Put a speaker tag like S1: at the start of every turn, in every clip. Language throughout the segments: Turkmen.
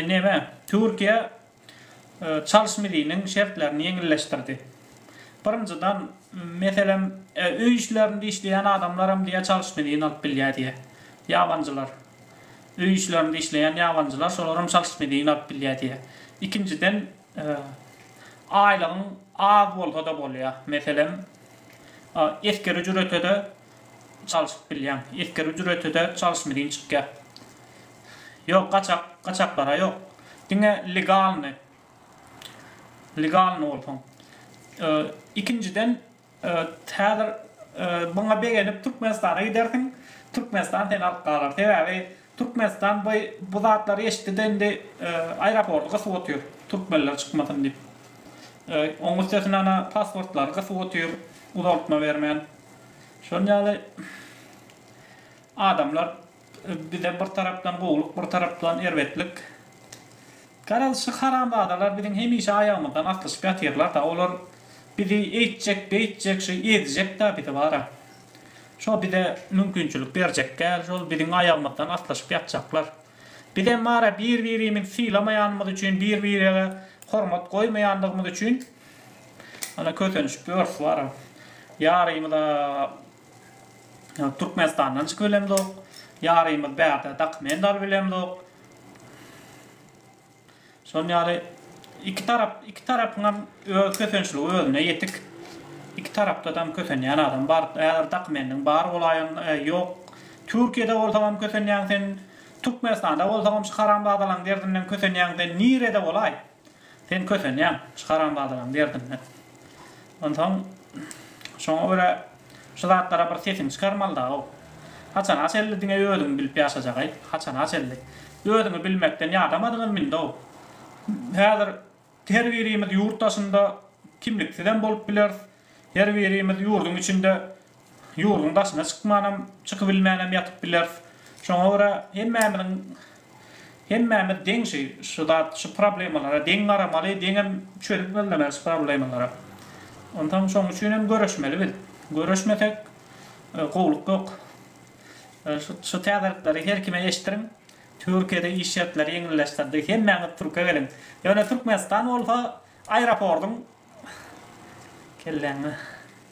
S1: Neme, Türkiýe çalyş miziniň şertlerini ýeňilleşdirdi. Birinjiden, meselem, öý işlerinde işleýän adamlar hem diýýär çalyş mizini alyp bilýär diýýär. Ýabanjylar, öý işlerinde işleýän ýabanjylar, şolar hem çalyş mizini alyp bilýär diýýär. Ikinjiden, aýlygyň az bolsa-da bolýar. Meselem, esgeri jüretede Çalşyp bilýäň. Esger ücreti-de çalyşmy deýin çykýar. Ýok, gaçak, gaçaklara ýok. Diňe legalny, legalny bolsaň. Ikinjiden, häzir buňa begenip Türkmenistana gidersiň, Türkmenistan seni alyp galar. Sebäbi Türkmenistan by bu zatlary eşitdi de indi aeroporty gysyp otyr türkmenler çykmasyn diyip. Oň üstesine ana pasportlary gysyp otyr uzaltma bermän. Şon yaly adamlar bize bir tarapdan gowluk bir tarapdan erbetlik. Garaz şu haramzadalar biziň hemişe ayagymyzdan aslyşyp yatyrlar da olar bizi eytjek beytjek şu ezjek da bizi bara. Şo bize mümkinçilik berjek däl, şol biziň aýagymyzdan aslyşyp ýatjaklar. Biz hem bar-a bir-birimizi sylamaýanymyz üçin, bir-birege hormat goýmaýandygymyz üçin ana kösenişip ýörüs bar-a. Ýarymyz-a Türkmenistandan çykyp bilemzok, ýarymyz bärde dakymen dalyp bilemzok. Şonuň ýaly iki tarap, iki tarapyň hem öz kösençligi özüne ýetik. Iki tarapda dam kösenýän adam bar. Häzir dokumendiň bar bolaýan, ýok. Türkiýede bolsaň hem kösenýäň sen, Türkmenistanda bolsaň hem şu haramzadalaň derdinden kösenýäň sen. Nirede bolaý? Sen kösenýäň şu haramzadalaň derdinden. Onsoň, şoňa görä şu zatlara bir sesiňi çykarmaly dagow. Haçana çenli diňe özüňi bilip ýaşajagaý? Haçana çenli? Özüňi bilmekden ýadamadyňyz mindi-ow. Häzir her birimiz ýurt daşynda kimliksizem bolup bileris, her birimiz ýurduň içinde Ýurduň daşyna çykmanam, çykybilmänem ýatyp bileris. Şoňa görä hemmämiziň, hemmämiz deň şü, şü zat, şü problemalara deň garamaly, deňem çözüp gözlemeli şü problemalara. Onsoň şoň üçinem göreşmeli biz. Göreşmesek, gowluk ýok. Şü, şü täzelikleri her kime eşitdiriň. Türkiýede iş şertleri ýeňilleşdirdi. Hemmäňiz Türkiýe geliň. Ýöne Türkmenistan bolsa aýropordyň kelläňe.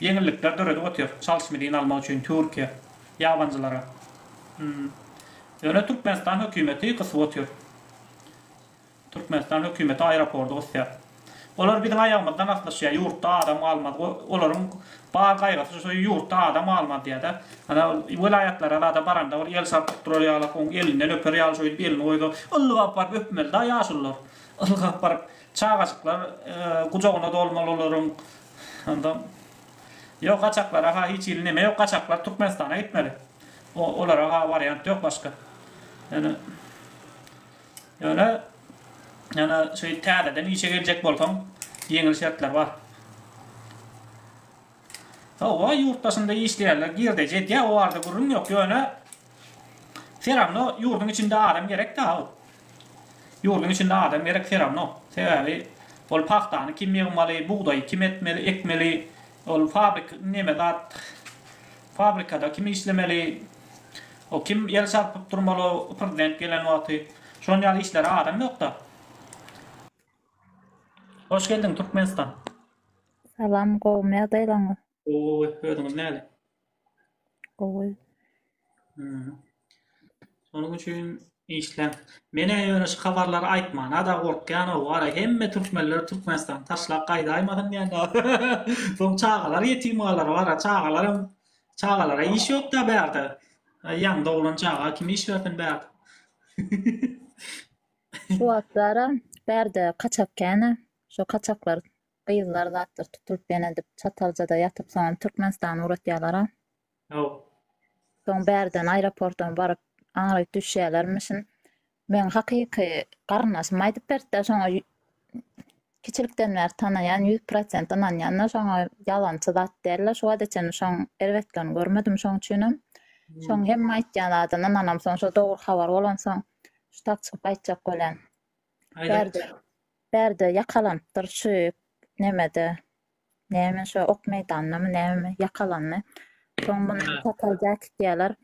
S1: Ýeňillikler döredip otyr. Çalşymy dyn almak üçin Türkiýe ýabanjylara. Hmm. Ýöne Türkmenistan hökümeti gysyp otyr. Türkmenistan hökümeti aeropordy gysýar. Olar biziň aýagymyzdan aslyşýar, ýurtda adam galmaz. Olaryň bar gaýgysy şu ýurtda adam galmaz diýýärde. Ana welaýatlara zada baranda bir el çarpyp durar ýaly, oň elinden öper ýaly şeýdip elini goýsa, ylgap baryp öpmelida ýaşulylar. Ylgap baryp çagajyklar gujagyna dolmaly olaryň. Onda Ýok gaçaklara ha hiç hili neme ýok gaçaklar Türkmenistana gitmeli. O olara ha wariant ýok başga. Ýöne Ýöne ýöne şu täzeden işe geljek bolsaň ýeňil şertler bar. Hawa ýurt daşynda işleýärler girdeji edýär o barada gürrüň ýok ýöne Seramno ýurdyň içinde adam gerek Dawut. Ýurdyň içinde adam gerek seramno. Sebäbi ol pagtany kim ýygmaly, bugdaýy kim etmeli, ekmeli, ol fabrik neme zat, fabrikada kim işlemeli, o kim el çarpyp durmaly prezident gelen wagty. Şon ýaly işlere adam ýokda. Hoş geldiň Türkmenistan. Salam gowymy ýagdaýlaryňyz. Gowy, özüňiz näle? Gowy. Hmm. Şonuň üçin işläň. Menä ýöne şu habarlary aýtmana-da gorkýan o wara hemme türkmenler Türkmenistany taşlap gaýdaýmasyn diýende. Soň çagalar ýetim galar wara çagalaram çagalara iş ýok-da bärde. Ýaň doglan çaga kim iş bersin bärde. Şu wagtlara bärde kaçak käne. Şu kaçaklar Gyzlar zatlar tutulyp ýene edip çataljada ýatyp soňam Türkmenistana ugratýalara. Haw. Soň bärden aeroportam baryp aňryk düşýälermişin. Meň hakyky garyndaşym aýdyp beripdir şoňa kiçilikden bäri tanaýan ýüz prosent ynanýanda şoňa ýalançy zat däldir şu wagta çenli şoň erbetligini görmedim şoň üçinem şoň hemme aýtýan zadyna ynanam soň şo dogry habar bolansoň ştap çykyp gaýtjak bolýan. Bärde, bärde ýakalanypdyr şu nemede, näme şo ok meýdanyndamy nämemi ýakalandy. Soň muny Topal Jäkit diýerler.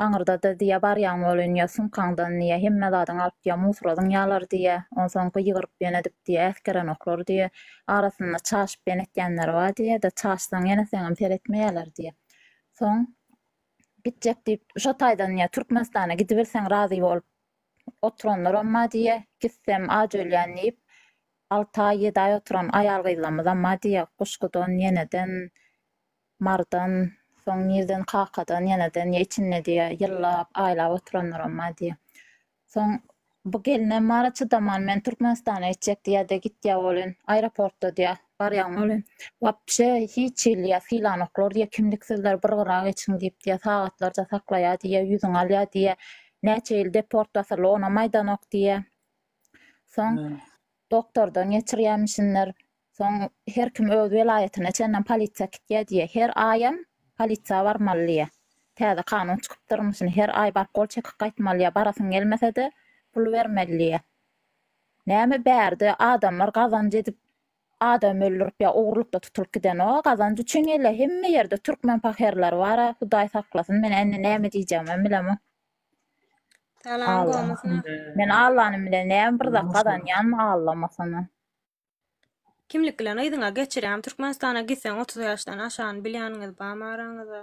S1: Aňyrda-da diýýär, barýaň welin ýa sumkaňdan diýýär, hemme zadyňy alyp diýýär, musuradyň ýalar diýýär. Onsoň gygyryp ýöne edip diýýär, äsgerenoklar diýýär. Arasynda çaşyp ýöne etýänleri bar diýýär-de, çaşsaň ýene seňem seretmeýärler diýýär. Soň gitjek diýip, şo taýdan diýýär, Türkmenistana gidiberseň razy bolup, Oturanlaram Madiýe, gitsem aç ölýän diýip, alty aý, ýedi aý oturan aýal-gyzlarymyzam Madiýe, guşgudan, ýeneden, mardan, soň nireden kakadan, ýeneden ýa içinde diýe, ýyllap, aýlap oturanlaram Madiýe. Soň bu gelnem bar-a, çydaman, men Türkmenistana gitjek diýýä-de, gitýä welin, aeroportda diýýä, barýan welin, wapşe hiç hili diýýä, sylanoklar diýýä, kimliksizler bir gyra geçiň diýip diýýä, sagatlarça saklaýar diýýä, ýüzüňi alýar diýýä, Näçe ýyl deportasiýa lona maýdanok diýýä. Soň doktordan geçirýämişinler. Soň her kim öz welaýatyna çenlem polisiýa kitýä diýýä. Her aýam polisiýa barmaly diýýä. Täze kanun çykypdyrmyşyn her aý baryp gol çekip gaýtmaly diýýä. Barasyň gelmese-de pul bermeli diýýä. Näme bärde adamlar gazanç edip Adam öldürip ya ogrulykda tutulyp gidenok gazanç üçin gelýär hemme ýerde türkmen paherleri bara hudaý saklasyn men indi näme diýjegimem bilemok. Salam gomusyna. Men Allanyň bilen näme bir zat gazanýanmy Allamasyna. Kimlik bilen yzyňa geçirýäňmi Türkmenistana gitseň otuz ýaşdan aşany bilýäniňiz barmy araňyzda.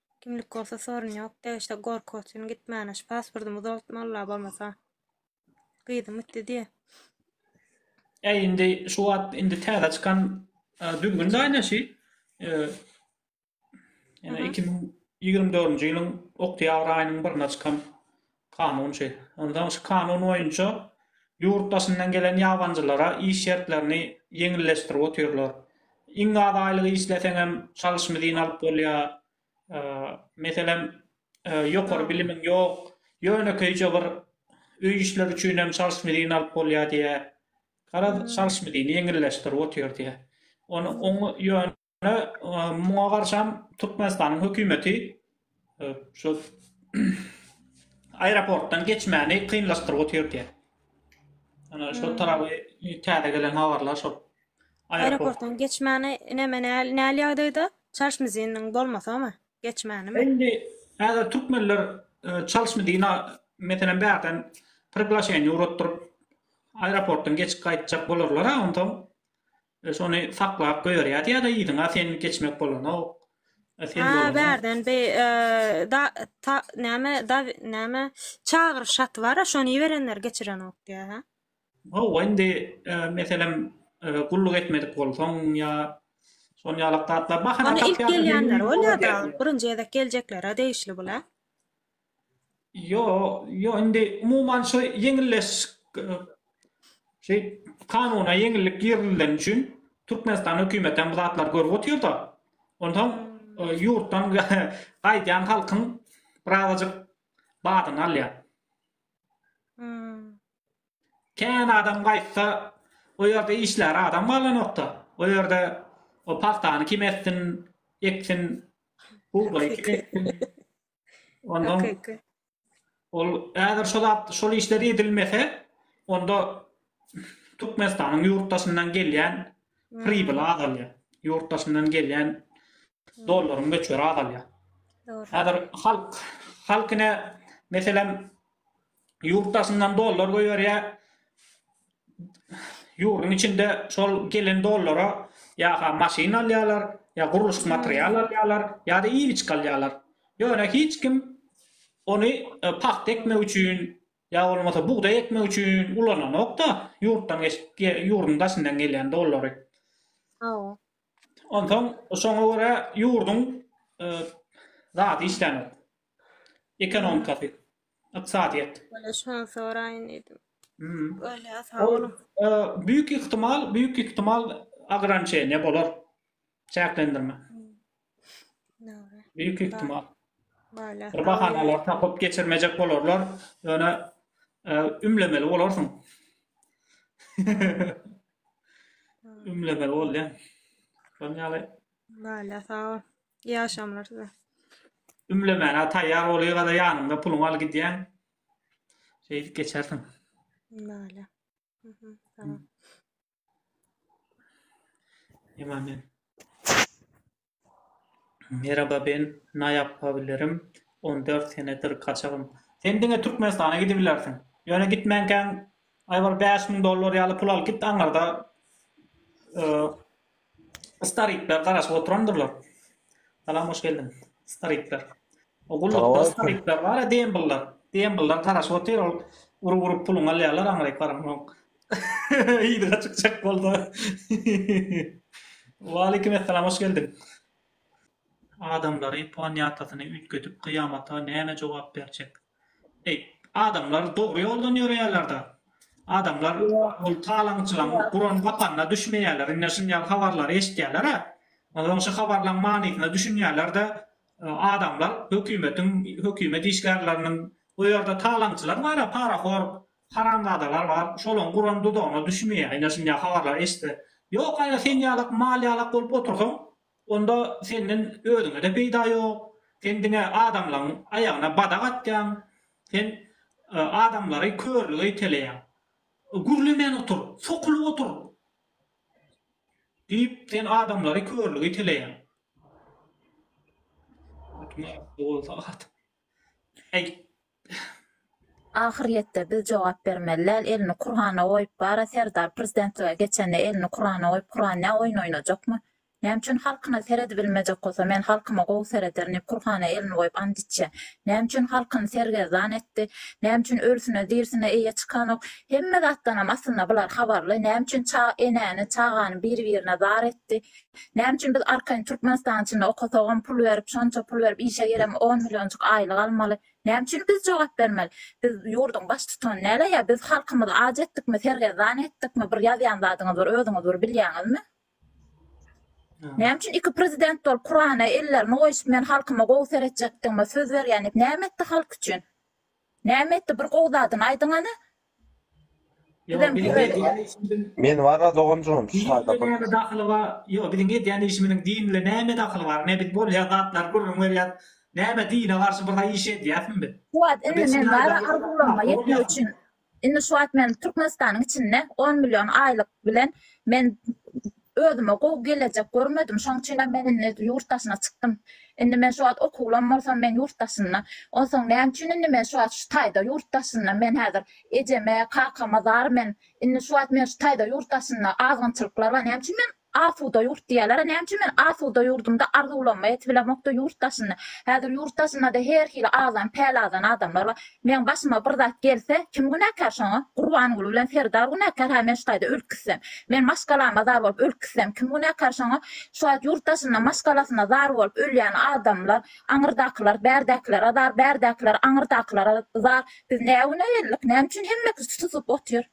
S1: Kimlik bolsa sorun yok de işte gorky uçin gitmana şu pasportumy uzaltmalylar bolmasa gyzym gitdi diye. Äý indi şu wagt indi täze çykan e, düzgün daýnaşy e, ýene iki müň ýigrimi dördünji ýylyň oktýabr aýynyň birine çykan Kanunçy. Onsoň şu kanun boýunça ýurt daşyndan gelen ýabanjylara iş şertlerini ýeňilleşdirip otyrlar. Iň az aýlyk işleseňem çalyş mizin alyp bolýar. Meselem, ýokary bilimiň ýok, ýönekeýje bir öý işleri üçinem çalyş mizin alyp bolýar diýýär. Garaz, çalyş mizini ýeňilleşdirip otyr diýýär. Ony oň ýöne Ýöne muňa garşam Türkmenistanyň hökümeti şu aeroportdan geçmäni kynlaşdyryp otyrdy. Ana şu tarapy täze gelen habarlar şol. Aeroportdan geçmäni näme näli ýagdaýda? Çarşmiziniň bolmasamy? Geçmänimi? Indi häzir türkmenler Çalşmidina meselem bärden priglaşeniýe uratdyryp aeroportdan geçip gaýtjak bolarlar-a onsoň Biz ony saklap goýarýas ýa-da yzyna sen geçmek bolanok. Sen bolanyň. Bärden bi da ta näme da näme çagyryş haty bara şony iberenler geçirenok diýä hä. Hawa indi meselem gulluk etmedik bolsaň ýa şon ýalak zatlar bahana tapýarlar. Ony ilk gelýänler bolýa dagy birinji gezek geljeklerä degişli bul hä. Ýo-ýo indi umuman şu ýeňilleş şeý kanuna ýeňillik girizileni üçin Türkmenistan hökümetem bu zatlary görüp otyrda. Ondan ýurtdan gaýdýan halkyň birazajyk badyny alýar. Kän adam gaýtsa o ýerde işlär adam galanokda. O ýerde o pagtany kim etsin, eksin, bugdaý kim eksin. Ondan ol äger şol şol işler edilmese, onda Türkmenistanyň ýurt daşyndan gelýän hmm. pribyl azalýar. Ýurt daşyndan gelýän dollaryň möçberi azalýar. Häzir halk halkyna meselem ýurt daşyndan dollar goýberýär. Ýurduň içinde şol gelen dollara ýa-ha maşyn alýarlar, ýa gurluşyk material alýarlar, ýa-da iýgiçlik alýarlar. Ýöne hiç kim ony e, pagta ekmek üçin ýa bolmasa bugdaý ekmek üçin ulananok-da, ýurtdan geçip ýurduň daşyndan gelýän dollary. Hawa. Onsoň şoňa görä ýurduň e, zady işlänok. Ekonomikasy. Ykdysadyýet. Bolýa şony soraýyn diýdim. Bolýa sag boluň. Büyük ihtimal büyük ihtimal agrançeniýa bolar. Çäklendirme. Dogry. Büyük ihtimal. Bolýa. Bir bahanalar tapyp geçirmejek bolarlar. Ýöne ümlemeli bolarsyň. Ümlemeli bolýa. Şonuň ýaly. Bolýa sag bol. Ýaşamlar size. Ümlemäne taýýar bol ýa-da ýanyňda puluňy al gidýäň. Şeýdip geçersiň. Näle. Mhm. Tamam. Ýaman men. Merhaba ben na ýapa bilerim 14 senedir kaçagym. Sen diňe Türkmenistana gidibilersiň. Ýöne gitmänkäň aý bir bäş müň dollar ýaly pul alyp git aňyrda Starikler garaşyp oturandyrlar. Salam hoş geldiň. Starikler. O gullukda starikler bar, dembiller. Dembiller garaşyp otyr, ol urup urup puluny alýarlar aňryk baramok. Yzyna çykjak bolsa. Waleýkim essalam hoş geldiň. Adamlary, planetasyny üýtgedip, gyýamata näme jogap berjek? Eý, adamlar dogry ýoldan ýöreýärler-dä. Adamlar ol talaňçylaň guran gapanyna düşmeýärler. Indi şum ýaly habarlary eşitýärler-ä. Onsoň şu habarlaň manysyna düşünýärler-de, adamlar hökümetiň, hökümet işgärleriniň, o ýerde talaňçylar bar-a, parahor haramzadalar bar, şolaň guran duzagyna düşmeýär. Indi şum ýaly habarlary eşitse. Ýok, aýra sen ýalak, mal ýalak bolup otursaň, Onda senden özüňe-de peýda ýok. Sen diňe adamlaň aýagyna badak atýaň. Sen adamlary körlüge iteleýäň. Gürlemän otur, sokulyp otur! Diýip, sen adamlary körlüge iteleýäň. Atyň agzy bolsa at. Äý, Ahyrýetde biz jogap bermeli däl, elini Kurana goýup bara Serdar prezidentlige geçende elini Kurana goýup Kuran ne oýun oýnajakmy? Näme üçin halkyna seredibilmejek bolsa men halkyma gowy serederin diýip Kurhana elini goýup ant içýä? Näme üçin halkyny sergezdan etdi? Näme üçin ölsüne dirsine eýe çykanok? Hemme zatdanam aslynda bular habarly, näme üçin ça enäni, çagany bir-birine zar etdi? Näme üçin biz arkaýyn Türkmenistanyň içinde okasagam pul berip şonça pul berip işe girem on millionjyk aýlyk almaly näme üçin biz jogap bermeli biz ýurduň baş tutany näle ýa biz halkymyzy aç etdikmi sergezdan etdikmi bir ýazýan zadyňyz bir özüňiz bir bilýäňizmi Näme üçin iki prezident bolup Kurana ellerini goýşup men halkyma gowy seretjekdigime söz berýän näme etdi halk üçin Näme etdi bir gowy zadyny aýdyň ana. Bizem görelim. Men barra doganjygym şu halda bir. Din bilen näme dahyly bar ýok biziň edýän işimiziň din bilen näme dahyly bar ne biz bolýan zatlary gürrüň berýäs näme dine garşy bir zaý iş edýäsmi biz. Şu wagt indi men bara arzuwlaryma ýetmek üçin indi şu wagt men türkmenistanyň içinde on million aýlyk bilen men Özüme gowy gelejek görmedim, şoň üçinem men indi ýurt daşyna çykdym. Indi men şu wagt okuwlam bolsam, men ýurt daşynda. Onsoň näme üçin indi men şu wagt şu taýda ýurt daşynda? Men häzir ejeme, kakama zar men. Indi şu wagt men şu taýda ýurt daşynda, azgynçylyklar bar. Näme üçin men asuda ýurt diýýärler-ä? Näme üçin men asuda ýurdumda arzuwlaryma ýetibilemok-da, ýurt daşynda? Häzir ýurt daşynda-da her hili azan, pälazan adamlar bar. Meň başyma bir zat gelse, kim günäkär şoňa? Gurbangül bilen Serdar günäkär, hä, men şu taýda ölüp gitsem? Men maşgalama zar bolup ölüp gitsem, kim günäkär şoňa? Şu wagt ýurt daşynda maşgalasyna zar bolup ölýän adamlar, aňyrdakylar, bärdäkilere zar, bärdäkiler aňyrdakylara zar. Biz nä güne geldik? Näme üçin hemmekisi susup otyr?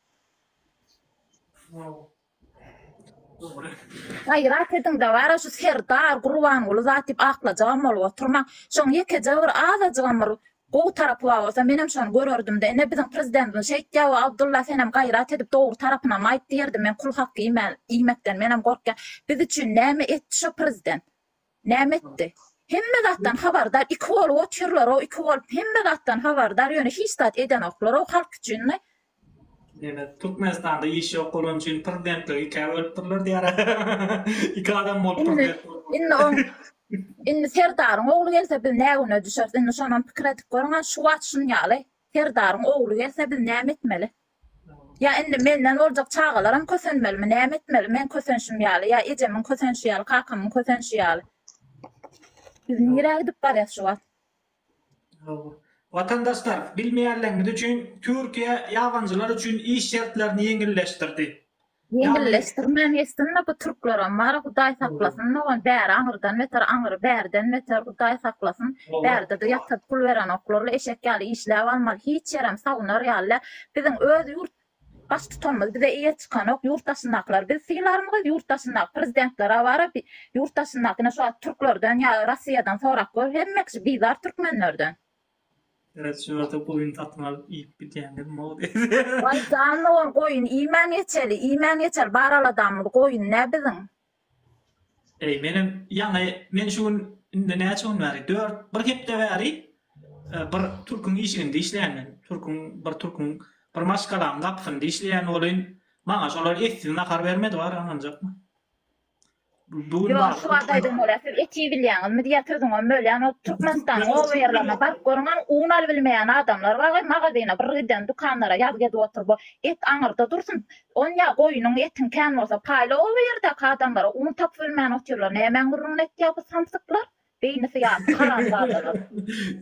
S1: Gaýrat ediň dabara şu Serdar Gurbanguly zat diýip aklajagam bolup oturmaň. Şoň ýekeje bir azajygam bir gowy tarapy bar bolsa menem şony görerdimdä ine biziň prezidentimiz şeýtýäwä Abdulla senem gaýrat edip dogry tarapynam aýt diýerdim men kul haky iýmän iýmekden menem gorkýan biz üçin näme etdi şo prezident Näme etdi? Hemme zatdan habardar iki bolup otyrlarow iki bolup hemme zatdan habardar ýöne hiç zat edenoklarov halk üçinni. Ýöne Türkmenistanda iş ýok bolany üçin prezidentligi ikä bölüpdirler diýara iki adam bolup prezident bolup. Indi oň indi serdaryň ogly gelse biz nä güne düşeris indi şonam pikir edip görüň a şu wagt şunýaly serdaryň ogly gelse biz näme etmeli. Ýa indi menden boljak çagalaram kösenmelimi, näme etmeli? Men kösenşim ýaly, ýa ejemiň kösenşi ýaly, kakamyň kösenşi ýaly. Biz nirä gidip barýas şu wagt? Watandaşlar, bilmeýänleriniz üçin, Türkiýe ýabanylar üçin iş şertlerini ýeňilleşdirdi. Ýeňilleşdirmän geçsinda bu türkleram bar hudaý saklasyn dogan bäri aňyrdan beter aňyry bärden beter hudaý saklasyn bärdede ýatyryp pul berenoklarly eşek ýaly işläp almaly hiç ýerem sagunar ýaly däl biziň öz ýurt baştutanymyz bize eýe çykanok ýurt daşyndakylar biz sylarmyz ýurt daşyndaky prezidentler awara ýurt daşyndaky ine şu wagt türklerden ýa rossiýadan sorap gör hemme kişi bizar türkmenlerden. Ýa-da şu ýerde goýun satyn alyp iýip gidýäňizmi-ow diýdi. Waý, janybyr goýun iýmän geçeli, iýmän geçeli, bar aladamyz goýun-dä biziň. Eý, menem, ýaňy, men şu gün, indi näçe gün bäri, dört, bir hepde bäri bir türküň işiginde işleýän men. Türküň, bir türküň, bir maşgalanyň gapysynda işleýän welin, maňa şolar essiz nahar bermedi, bar, ynanjakmy? Ýok, şu wagt aýdan bolýar. Siz et iýip bilýäňizmi diýýär, sözüňem bölýän. O Türkmenistanyň obaýerlerine baryp görüň, ony un alybilmeýän adamlar bar we magazyna bir giden, dükanlara ýazgy edip oturyp o et aňyrda dursun, on ýa goýnuň etiň kän bolsa paýla obaýerdäki adamlara un tapybilmän otyrlar. Nämäň gürrüňini etýär bu samsyklar? Beýnisi ýatyk haramzadalar.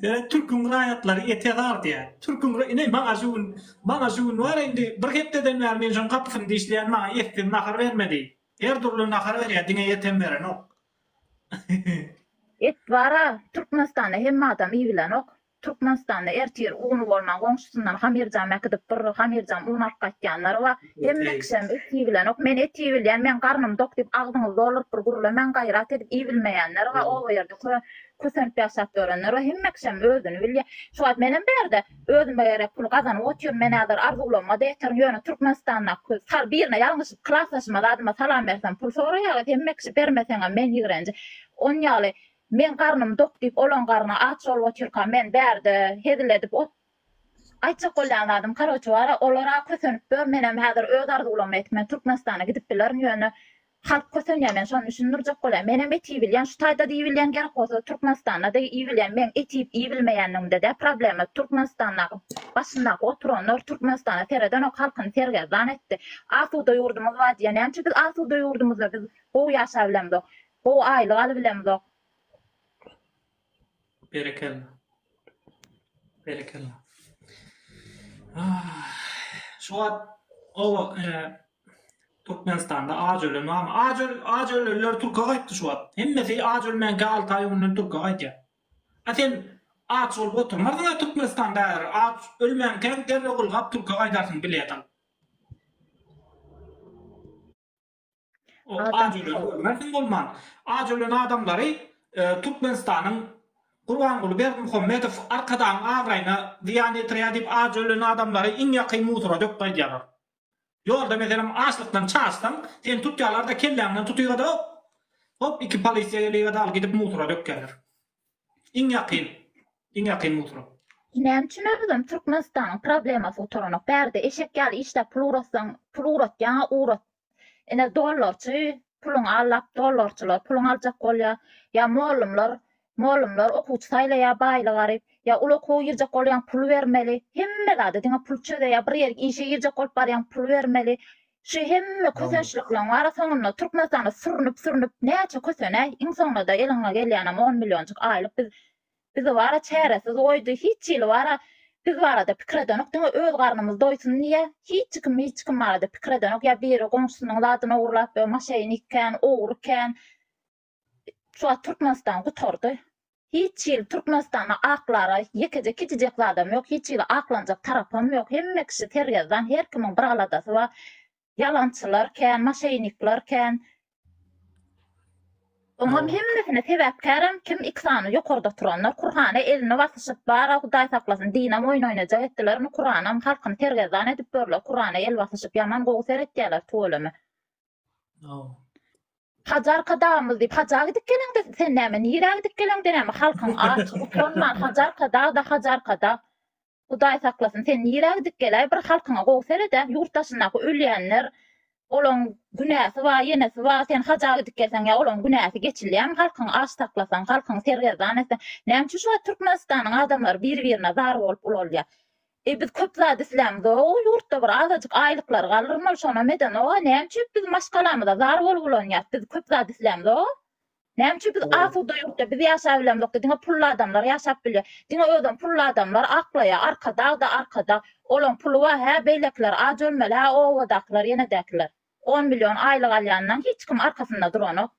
S1: Ýöne türküň raýatlary ete zar diýýär. Türküň ra, ine maňa şu gün, maňa şu gün bar indi bir hepdeden bäri men şoň gapysyny dişleýän maňa etsiz nahar bermedi. Her dürli nahar berýär diňe ýetem berenok. Et bar a Türkmenistanda hemme adam iýbilenok. Türkmenistanda ertir uny bolman goňşusyndan hamirjam äkidip bir hamirjam un alyp gaýtýanlary bar. Hemme kişem et iýbilenok. Men et iýbilýän men garnym dok diýip agzyňyzy dolduryp bir gürlemäň gaýrat edip iýbilmeýänler bar. Oba ýerde kösenip ýaşap ýörenler bar. Hemme kişem özüni bilýär. Şu wagt menem bärde Özüm bir ýere pul gazanyp otyryn men häzir arzuwlaryma-da ýeterin ýöne Türkmenistandaky sal birine ýalňyşyp klasdaşyma zadyma salam bersem pul soraýarlar hemme kişi bermeseňem men ýigrenji on ýaly meň garnym dok diýip olaň garny aç bolup otyrka men bärde hezil edip ot aýtjak bolýan zadym karoçe bara olara kösenip dur menem häzir öz arzuwlaryma ýetip men Türkmenistana gidip bilerin ýöne Halk kösenýär men şony düşündirjek bolaýyn menem et iýibilýän şu taýda diýibilýän gerek bolsa türkmenistanda da iýibilýän meň et iýip iýibilmeýänligimde däl problema türkmenistandaky başyndaky oturanlar türkmenistana seredenok halkyny sergezdan etdi asuda ýurdumyz bar diýýär nämeçe biz asuda ýurdumyzda biz gowy ýaşabilemzok gowy aýlyk alybilemzok. Berekella. Berekella. Şu wagt oba Türkmenistanda aç ölen barmy? Aç öl aç ölenler Türkiýe gaýtdy şu wagt. Hemmesi aç ölmänkä 6 aý öňden Türkiýe gaýtýar. A sen aç bolup oturmarsyň Türkmenistanda häzir. Aç ölmänkä derrew gylgap Türkiýe gaýdarsyň bilet alyp. Görmersiň bolman. Aç ölen adamlary Türkmenistanyň Gurbanguly Berdimuhamedow Arkadagyň abraýyna zyýan ýetirýär diýip aç ölen adamlary iň ýakyn musora döküp gaýdýarlar. Ýolda meselem açlykdan çaşsaň seni tutýarlarda kelläňden tutyga-da hop iki polisiýa geliga-da al gidip musora dökýärler. Iň ýakyn, iň ýakyn mutura. Näme üçin özem Türkmenistanyň problemasy gutaranok. Bärde eşek ýaly işläp pul ugrassaň, pul ugratýaňa ugrat. Ine dollarçy puluňy allap dollarçylar puluňy aljak bolýa. Ýa mollumlar, mollumlar okuwçy saýlaýa baýly garyp. Ýa uly okuwa girjek bolýaň pul bermeli. Hemme zada diňe pul çözeýa. Bir ýerik işe girjek bolup barýaň pul bermeli. Şu hemme kösençlikleriň arasaňynda Türkmenistana sürnüp-sürnüp näçe kösenäý, iň soňunda-da eliňe gelýänem on millionjyk aýlyk biz bizi wara çäresiz goýdy, hiç hili wara biz barada pikir edenok, diňe öz garnymyz doýsun diýe hiç kim hiç kim barada pikir edenok, ýa biri goňşusynyň zadyny ogurlap, ýa maşeýnik kän, ogry kän, Şu wagt Türkmenistan gutardy. Hiç hili Türkmenistanda aklara ýekeje kiçijek zadam ýok, hiç hili aklanjak tarapam ýok. Hemme kişi sergezdan, her kimiň bir aladasy bar. Ýalançylar kän, maşeýnikler kän. Oňam hemmesine sebäpkärem kim iki sany ýokarda oturanlar. Kurhana elini basyşyp bar-a Hudaý saklasyn, dinam oýun oýnajak etdiler indi Kuranam halkyny sergezdan edip ýörler. Kurana el basyşyp ýaman gowy seretýäler tüweleme. Hajarka dagymyz diýip haja gidip geleňde sen näme nirä gidip geleňde näme halkyň aç utanman hajarka dag da hajarka dag. Hudaý saklasyn sen nirä gidip geläý bir halkyňa gowy seredä ýurt daşyndaky ölýänler olaň günäsi bar ýenesi bar sen haja gidip gelseň ýa olaň günäsi geçilýämi halkyň aç saklasaň halkyň sergezdan etseň näme üçin şu wagt Türkmenistanyň adamlary bir birine zar bolup ulalýa Eý biz köp zat islämizog ol ýurtda bir azajyk aýlyklary galrym ol şonam edenoga näme üçep biz maşgalamyza zar bolup ulanýas biz köp zat islämizog näme üçep biz asuda ýurtda biz ýaşap bilemizokda diňe pully adamlar ýaşap bilýär diňe özem pully adamlar aklaýa arkadagda arkadag olaň puly bar hä beýlekiler aç ölmeli hä obadakylar ýenedäkiler on million aýlyk alýandan hiç kim arkasynda duranok.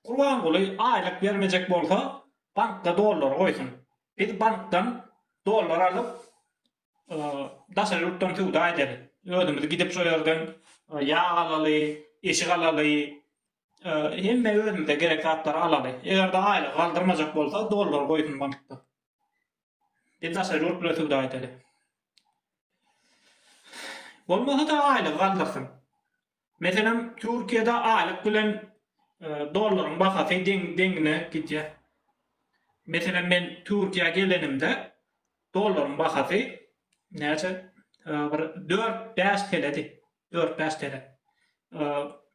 S1: Gurbanguly aýlyk bermejek bolsa bankda dollary goýsun. Biz bankdan dollar alyp daşary ýurtdan söwda edeli. Özümiz gidip şo ýerden ýag alaly, eşik alaly. Hemme özümize gerek zatlary alaly. Eger-de aýlygy galdyrmajak bolsa dollary goýsun bankda. Biz daşary ýurt bilen söwda edeli. Bolmasa-da aýlygy galdyrsyn. Meselem, Türkiýede aýlyk bilen dollaryň bahasy deň-deňine gidýär. Meselem, men Türkiýä gelenimde dollaryň bahasy näçe, bir dört-bäş teledi, dört-bäş tele.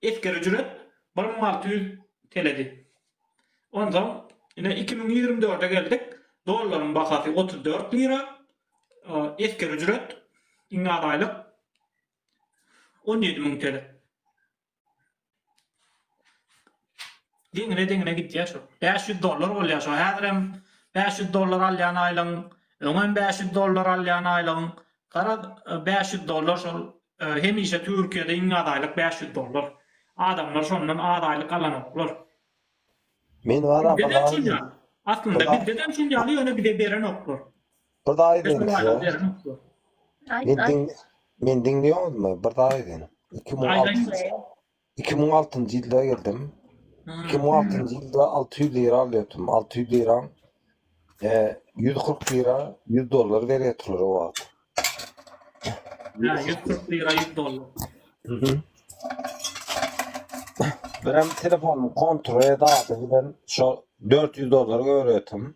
S1: Esger ücret bir müň alty ýüz teledi. Onsoň, ine, iki müň ýigrimi dörde geldik, dollaryň bahasy otuz dört lira, esger ücret, iňňän aýlyk On ýedi müň tele. Deňine-deňine gidýär şo. Bäş ýüz dollar bolýar şo. Häzirem bäş ýüz dollar alýan aýlygyň, öňem bäş ýüz dollar alýan aýlygyň. Garaz, bäş ýüz dollar şol hemişe Türkiýede iň az aýlyk bäş ýüz dollar. Adamlar şondan az aýlyk alanoklar. Men baram, Aslynda bizde-de şuny ýaly, ýöne bize berenoklar. Bir zat Beş aýdyň ýüz size. manat berip. Aýt, Men aýt. diň men diňleýoňuzmy? Bir zat aýdyň. Iki müň Aýt, alty- aýt. iki müň altynjy ýylda geldim. Hmm. Iki müň altynjy ýylda alty ýüz lira alýardym. Alty ýüz liraň e, ýüz kyrk lira, ýüz dollar berýärdiler o wagt. Ha, 140 lira 100 dollar. Mhm. Birem telefonymy kontrol ede adyň bilen şo dört ýüz dollar görýärdim.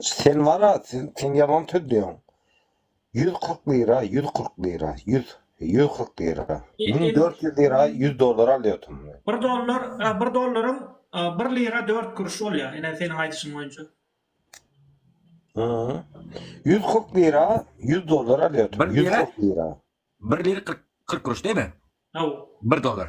S1: Sen wara, sen ýalan sözleýäň. Ýüz kyrk lira, ýüz kyrk lira, ýüz, ýüz kyrk lira. Müň dört ýüz lira ýüz dollar alýarsyň. Bir dollar, bir dollaryň bir lira dört kuruş bolýar, ine, seniň aýdyşyň boýunça. Hä-ä. Ýüz kyrk lira ýüz dollar alýarsyň, ýüz kyrk lira. Bir lira kyrk kuruş diýme. Hawa. Bir dollar.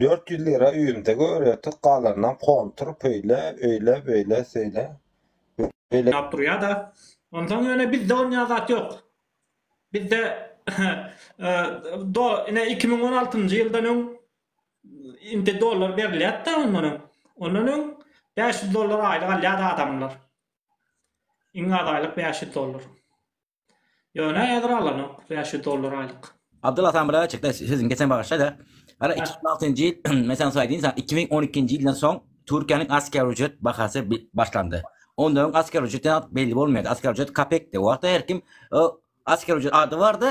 S1: Dört ýüz lira öýümde göretik galanynam kontur pöýle öýle böýle söýle böýle. Ýap durýada. Onsoň ýöne bizde bolmaýan zat ýok. Bizde do ine iki müň on altynjy ýyldan öň indi dollar berilýätda ondan öň. Ondan öň bäş ýüz dollar aýlyk alýady adamlar. Iň az aýlyk bäş ýüz dollar. Ýöne häzir alanok, bäş ýüz dollar aýlyk. Abdylla samyra çekde sözüni geçen bagyşlaýda. Hala iki müň altynjy ýyl men saňa soýaýdyn saňa iki müň on ikinji ýyldan soň Türkiýäniň asker ücret bahasy başlandy. Ondan öň asker ücret belli bolmaýardy. Asker ücret kapekdi. O wagtda her kim asker ücret ady bardy.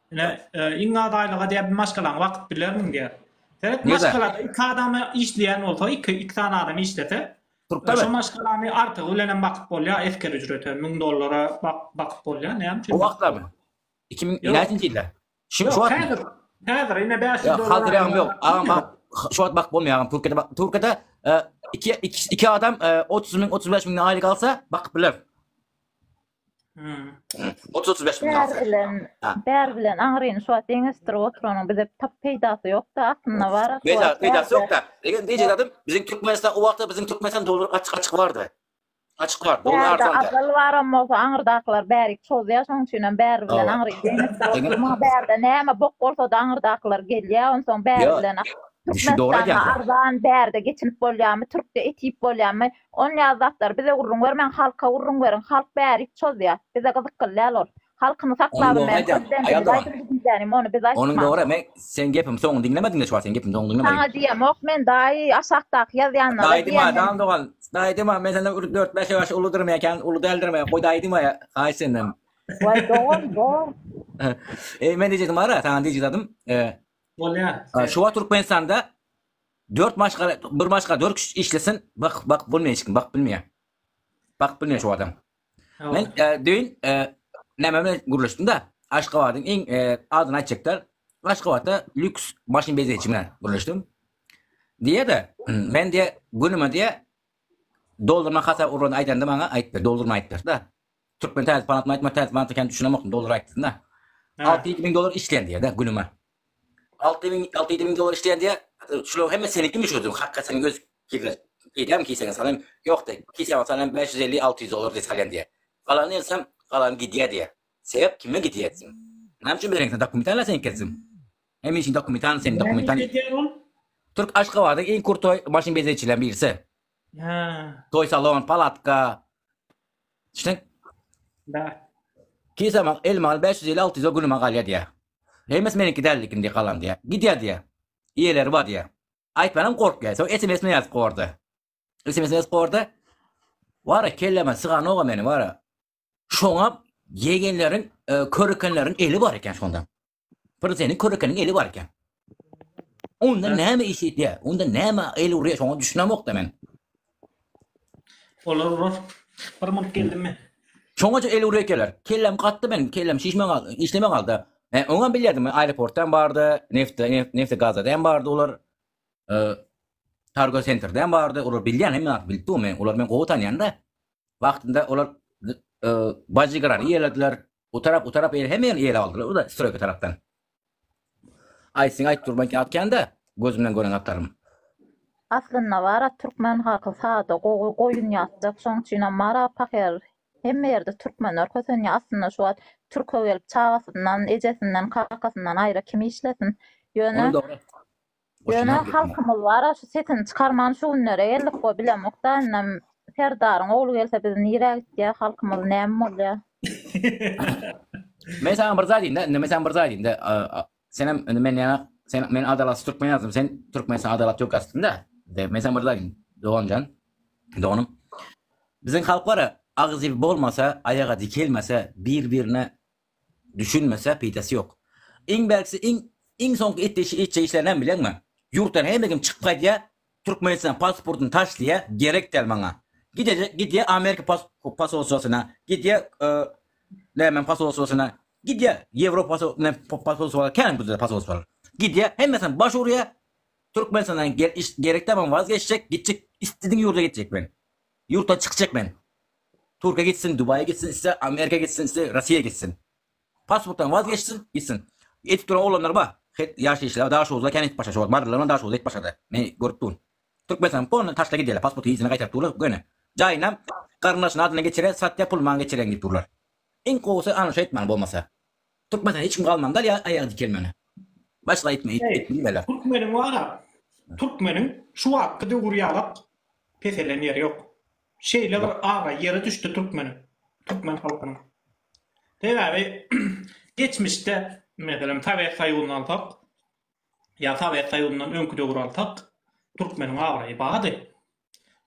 S1: Ine, e, iň az aýlyga diýip bir maşgalaň wagt bilermiň diýip. Seret Nega? maşgalada iki adam işleýän bolsa, iki iki sany adam işlese, Turkda şu bet. maşgalany artygy bilen hem bakyp bolýar, esker ücrete 1000 dollara bak- bakyp bolýar, näme üçin? O wagtlamy? 2000 Ýok. näçinji ýylda? Şu Ýok, şu wagtmy? häzir. Häzir ine 500 Ýa, dollar. hazır ýagam ýok. Agam bak, şu wagt bak bolmaýar agam. Türkiýede bak, Türkiýede e, iki, iki, iki adam e, 30 ming, 35 ming aýlyk alsa bakıp biler. 30-35 hmm. Bär bilen, bär bilen aňryny şu wagt deňeşdirip oturanyň bize tap peýdasy ýokda aslynda bar. Peýda, peýdasy ýokda. Egen diýjek adam biziň Türkmenistan o wagtda biziň Türkmenistan dolar açyk-açyk bardy. Açyk bar, dolar arzanda. Azal baram bolsa aňyrdakylar bärik çozýar, şoň üçin hem bär bilen aňry deňeşdirip. Maňa bärde näme bok bolsa da aňyrdakylar gelýär, ondan soň bär bilen Şu dogry Arzan bärde geçinip bolýarmy? Türkde etip bolýarmy? Ol näz zatlar bize gurruň bermäň halka gurruň beriň halk bärik çozýa bize gyzykgly däl ol halkyny Onuň saklabym dogry men aýdýan. köpden Aýal bili dogan. aýdyldy diýdänim ony biz Onuň aýtman. dogry men seň gepiň soňuny diňlemediňdä şu wagt seň gepiň soňuny diňlemedin. Saňa diýemok men daýy aşakdaky ýazýanyna Daýy diýme diýen men. dogan daýy diýme men senden bir dört bäş ýaş uludyryn mekäň uly däldirin mekä goý daýy diýme haýyş senden. Waý dogan bor. Eý men diýjegim bara saňa diýjizadym Bolýar. şu wagt Türkmenistanda Dört maşgala bir maşgala dört kişi işlesin bakyp bakyp bolmaýar hiç kim bakyp bilmeýär. Bakyp bilmeýär şu adam. Men düýn näme bilen gürleşdim-de Aşgabadyň iň adyny aýtjaklar. Aşgabatda lýuks maşyn bezeýji bilen gürleşdim. Diýýär-de men diýýär günüme diýýär doldurma hasap urany aýdanda maňa aýtdy doldurma aýtdyr-da. Türkmen täze banatmy aýtma täze banatmy kän düşünemokdym dollar aýtdysyna. Alty ýedi müň dollar işleýän diýýädä günüme. Alty müň alty ýedi müň dollar işleýän diýýär. Şularyň hemmesi senikimi şu ödül hakga seniň öz kigre girýämi kiseňe salam ýok diýýär. Kiseňe salam bäş ýüz elli alty ýüz dollar diýip salýan diýýär. Galany etsem galany gidýär diýýär. Sebäp kime gidýär etsin. Näme üçin bereňok sen dokumentalny seniňki etsin. Hem işiň dokumentalny seniň dokumentalny. Näme iş edýär ol? Türk Aşgabadyň iň kurtoý maşyn bezegçileriniň birisi. Hä. Toý salon, palatka. Düşündin? Da. Kisama elmal 500 ile 600 günüme galýar diýä. Hemes meniňki däldikin diýip galan diýä. Gidýär diýä. Iýeleri bar diýä. Aýtmanam gorkýar. Soň SMS-me ýazyp gordy. SMS-me ýazyp gordy. Wara kelleme syganok meni wara. Şoňa ýegenleriň, e, körekenleriň eli bar eken şonda. Bir seni körekeniň eli bar eken. Onda näme iş etýär? Onda näme el urýar? Şoňa düşünemokda men. Olar urar. Bir munt geldim men. Şoňa el urýar ekenler. Kellem gatdy meniň, kellem şişme galdy, işleme galdy. E, oňa bilýärdim, aeroportdan bardy, nefte, nefte gazadan bardy olar. E, Targo sentrden bardy, olar bilýän hemme zat bilip men, olar men gowy tanýan-da. Wagtynda olar e, bajigrany ýelediler, Bu tarap, u tarap eýle hemmeňi ele aldylar bu-da stroýka tarapdan. Aýtsyn aýt durman kän atýan-da, gözümden gören atarym. Aslynda bar-a türkmen halky sada, gowy, goýun ýatjak, şoň üçinem bar-a pahyr. Hemme ýerde türkmenler kösenýär. Aslynda şu wagt türke gelip çagasyndan, ejesinden, kakasyndan aýra kim işlesin? Ýöne, Ýöne halkymyz bar-a şu sesini çykarman şu günlere geldik goý bilemokda indem Serdaryň ogly gelse biz nirä gitýäs halkymyz näme bolýa. Men saňa bir zat aýdýyn-da indi men saňa bir zat aýdýyn-da senem indi men ýaňa sen men adalatsy türkmen ýazdym sen türkmenistan adalat ýok ýazdyň-da men saňa bir zat aýdýyn doganjan doganym biziň halk bar-a agzy bolmasa aýaga dikelmese bir birine Düşünmese peýdasy ýok. Iň belgisi iň iň soňky etdişi etjek işleri näme bileňmi? Ýurtdan hemme kim çykyp gaýdýa, Türkmenistan pasportyny taşlaýa, gerek däl maňa. Gidejek gidýä Amerika posolstwasyna, gidýä nämäň posolstwasyna, gidýä Ýewropa posolstwasyna, kän bizde posolstwalar. Gidýä hemmesem baş urýa, Türkmenistandan gerek däl maňa wazgeçjek, gitjek istediň ýurda gitjek men. Ýurtdan çykjak men. Turkiýa gitsin, Dubaýa gitsin, iste Amerika gitsin, iste Russiýa gitsin. Pasportdan waz geçsin, gitsin. Edip duran oglanlar bar. Hek ýaş işler Daşoguzda kän edip başa şo wagt bardylar men Daşoguzda edip başada. Men görüp durun. Türkmenistany polny taşla gidýäler pasporty yzyna gaýtaryp durlar göni. Jaýynam garyndaşynyň adyna geçire satýa pul maňa geçireň diýip durlar. Iň gowusy ana şo etmeli bolmasa. Türkmenden hiç kim galmandyr ýa aýagy dikelmeli. Başga aýtma it it diýmeler. Türkmeniň wara Türkmeniň şu wagtky döwür ýalak peselen ýeri ýok. Şeýle bir abraý ýere düşdi Türkmeniň, Türkmen halkynyň. Sebäbi geçmişde meselem Sowet Soýuzyny alsak ýa Sowet Soýuzyndan öňki döwür alsak Türkmeniň abraýy bardy.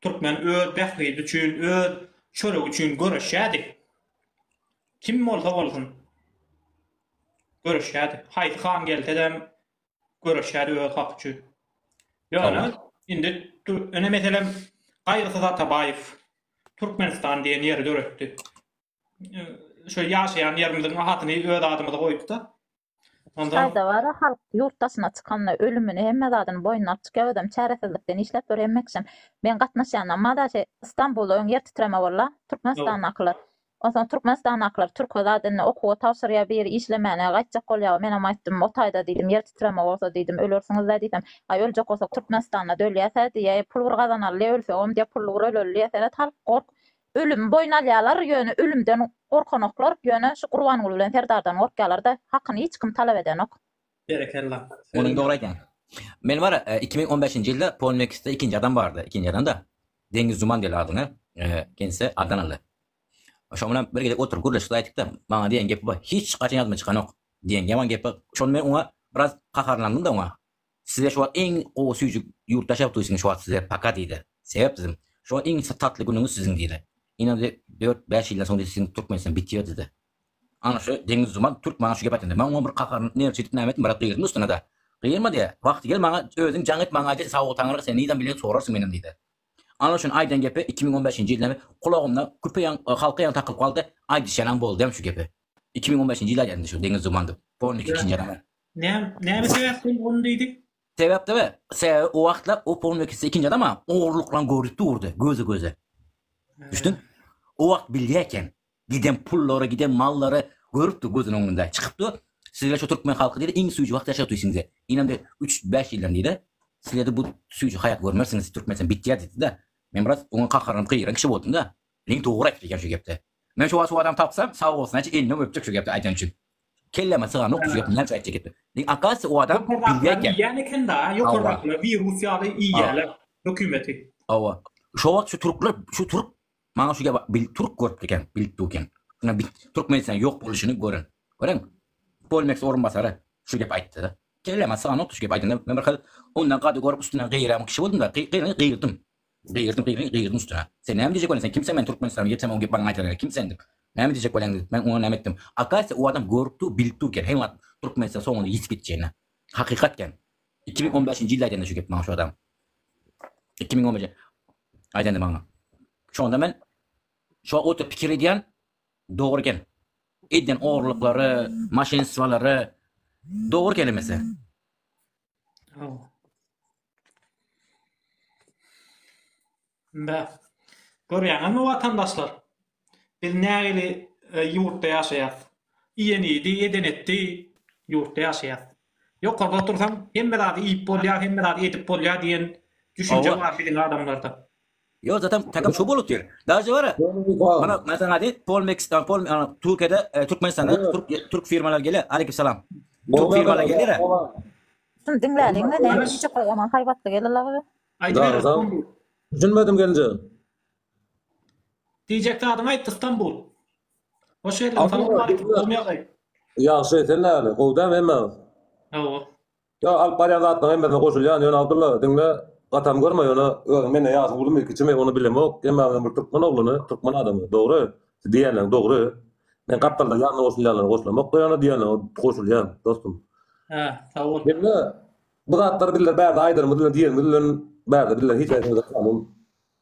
S1: Türkmen öz bähbidi üçin, öz çöregi üçin göreşýärdi. Kim bolsa bolsun, göreşýärdi. Haýsy han gelse-de göreşýärdi öz haky üçin. Ýöne indi ine meselem Gaýgysyz Atabaýew Türkmenistan diýen ýeri döretdi. Şu ýaşaýan ýerimiziň adyny öz adymyza goýup-da, Hytaýda bar-a, halk ýurt daşyna çykanda ölümini, hemme zadyny boýnuna alyp çykýar, özem çäresizlikden işläp ýör, hemme kişem. Meň gatnaşýanam bar-a, şeý Stambulda öň ýer titreme bol-a, türkmenistandakylar. Onsoň türkmenistandakylar türke zat indi okuwa tabşyrýar, biri işlemäne gaýtjak bolýar-a, menem aýtdym, o taýda diýdim, ýer titreme bolsa diýdim, ölersiňiz-dä diýsem, aý öljek bolsak türkmenistanda dölýäs-ä diýýär, pul bir gazanaly-le ölsegem diýýär, pully bir öleli diýýär, seret halk gork, Ölümi boýun alýarlar, ýöne ölümden gorkanoklar, ýöne şu Gurbanguly bilen Serdardan gorkýarlar-da, hakyny hiç kim talap edenok. Berekella. Muny dogry aýtýaň. Men bar iki müň on bäşinji ýylda Polmex'de ikinji adam bardy. Ikinji adam-da Deňiz Juman diýerler adyna. Kendisi Addan aldy. Şoň bilen bir gezek oturyp gürleşdik aýtdykda, maňa diýen gepi bar, hiç haçan ýadyma çykanok diýen ýaman gepi bar. Şony men oňa biraz gaharlandym-da oňa. Size şu wagt iň gowy süýjük ýurtdaş ýaly tuýsin şu wagt size paka diýdi. Sebäp siziň şu wagt iň tatly günüňiz siziň diýdi. Ine diýdi dört bäş ýyldan soň diýdi siziň Türkmenistan biter diýdi. Ana şu deňiz zumal türk maňa şu gep aýtanda maň oňa bir gaharyn nerw çekip näme etdim brat gygyrdym üstüne da. Gyýyrma diýä wagty gel maňa özüň jaň et maňa aýt sawugy taňyrga sen nizam bileýin sorarsyň menem diýdi. Ana şuny aýdan gepi iki müň on bäşinji ýyldam kulagymda küpe ýaň halka ýaly takylyp galdy aýdyşýanam boldym şu gepi iki müň on bäşinji ýylda aýdýan indi şu deňiz zumal diýip polnyk ikinji adama. Näme sebäpden boldy diýdi? Sebäp däl. Sebäbi o wagtlar o polny ikisi ikinji adama ogurlyklaryny görüp durdy, gözi-göze. Düşdüň? O wagt bilýä eken. Giden pullary, giden mallary görüpdi gözüniň öňünde. Çykypdy, Sizler şu türkmen halky diýdi, iň süýji wagt ýaşapdy üstüňizde. Inem bir üç-bäş ýyldan diýdi, sizlerde bu süýji haýat görmersiňiz, Türkmenistan bitýär diýdi-de. Men biraz oňa kakaranyp gygyran kişi boldum-da. Ine dogry aýdypdy eken şu gepde. Men şu wagt şu adamy tapsam sag bolsun aýt elini öpjek şu gepleri aýdan üçin. Kelleme syganok şu gepi näçe aýtjak gepdi. Ýa akasya o adam bilýä gep. Ýän eken da ýokardakylar wirus ýaly iýýäler hökümeti. Hawa. Şu wagt şu türkler şu türk maňa şu gepi bil türk görüpdi eken bilip dur eken. Şuna bil türkmenistan ýok boluşyny gören. Görän. Polmex orunbasary şu gepi aýtdy da. Kelleme syganok şu gepi aýdanda men bir hal ondan gady görüp üstünden gyýram kişi boldum da gyýrandym. Gygyrdym gygy gygyrdym üstüne. Sen näme diýjek welin sen kimseň men Türkmenistana ýetsem oň gepbaryny aýdar gerek kim sen diýip. Näme diýjek welin diýip men oňa näme etdim. Akasýa o adam görüp dur bilip dur eken heý wagt Türkmenistan soňuna ýetip gitjegine. Hakykat eken. Iki müň on bäşinji ýylda aýdanda şu gepi maňa şu adam. Iki müň on bäş aýdanda maňa. Şonda men şo oturyp pikir edýän dogry eken. Edýän ogrulyklary, maşenstwolary dogry kelemese. Ynda, görýäňizmi watandaşlar, biz nähili ýurtda ýaşaýas? Iýen iýdi, eden etdi ýurtda ýaşaýas. Ýokarda otursaň, hemme zady iýip bolýar, hemme zady edip bolýar diýen düşünje bar biziň adamlarda. Ýok zatem takom şu bolup ýör. Daže bara. Mana men saňa aýdaýyn, Pol Meksika, Pol Türkiýede, Türkmenistanda türk türk firmalary gelýär. Aleyküm salam. Türk firmalary gelýär. Şuny diňläliň we näme diýjek bu ýaman haýbatly gelin labyzy. Aýdyber. Düşünmedim gelinjegim. Diýjek zadyňy aýt Istanbul. Hoş geldiň. Salam aleýkum. Ýagşy sen näme? Gowy dämi hemmä? Hawa. Ýa alyp barýan zatlaň hemmesine goşulýan ýöne Abdylla diňle gatam görme ýöne özüň menden ýaşyň ulumy kiçimi ony bilemok emma men bir türkmen ogluny türkmen adamy dogry siz diýýänleň dogry men gapdalda ýanyna goşulýanlary goşulamokda ýöne diýýänleň goşulýan dostum Hä sag bol. Diňle bu zatlary bizler bärde aýdanymyz bilen diýenimiz bilen bärde bizler hiç näsemize kanun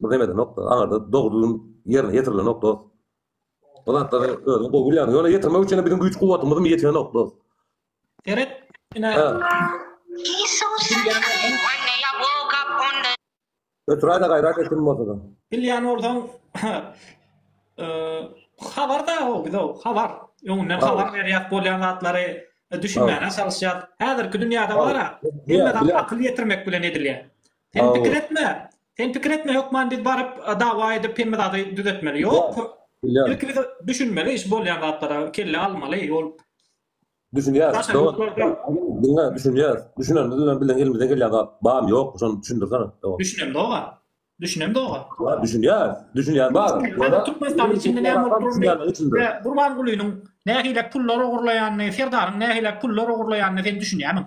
S1: bir neme edenokda aňarda dogrulygyň ýerine ýetirilenok dost bu zatlary özüň gowy bilýäň ýöne ýetirmek üçin biziň güýç kuwwatymyzym ýetenok dost. Seret, ine. Götüräýdä gaýrat et kim bolsa-da. Bilýän bolsaň, habar-da o bize habar. Öňünden habar berýäs bolýan zatlary düşünmäne çalyşýas. Häzirki dünýäde bar-a, hemme zat akyl ýetirmek bilen edilýär. Sen pikir etme, sen pikir etme hökman biz baryp dawa edip hemme zady düzetmeli. Ýok. Ilki düşünmeli iş bolýan zatlara kelle almaly. Ýol Düşünýäs. Zaten Dogan. Ruslar da Diňle, düşünýäs. Düşünenimiz bilen bilen elimizden gelýän zat bar, ýok, şony düşündirsene. Dogan. düşünem dogan. Düşünem dogan. Bar, Düşünýäs. Düşünýän bar. Hada Türkmenistanyň içinde näme bolup durany Düşünýän üçin. we Gurbangulynyň nähile pullar ogurlaýanyny, Serdaryň nähile pullar ogurlaýanyny sen düşünýämiň?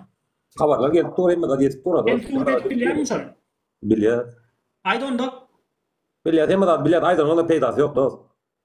S1: Habarlar gelip dur, hemme zat ýetip dur. Sen surat edip bilýärmiň şony? Bilýär. Aýt onda. Bilýär, hemme zat bilýär. Aýdanyň onda peýdasy ýok, dost.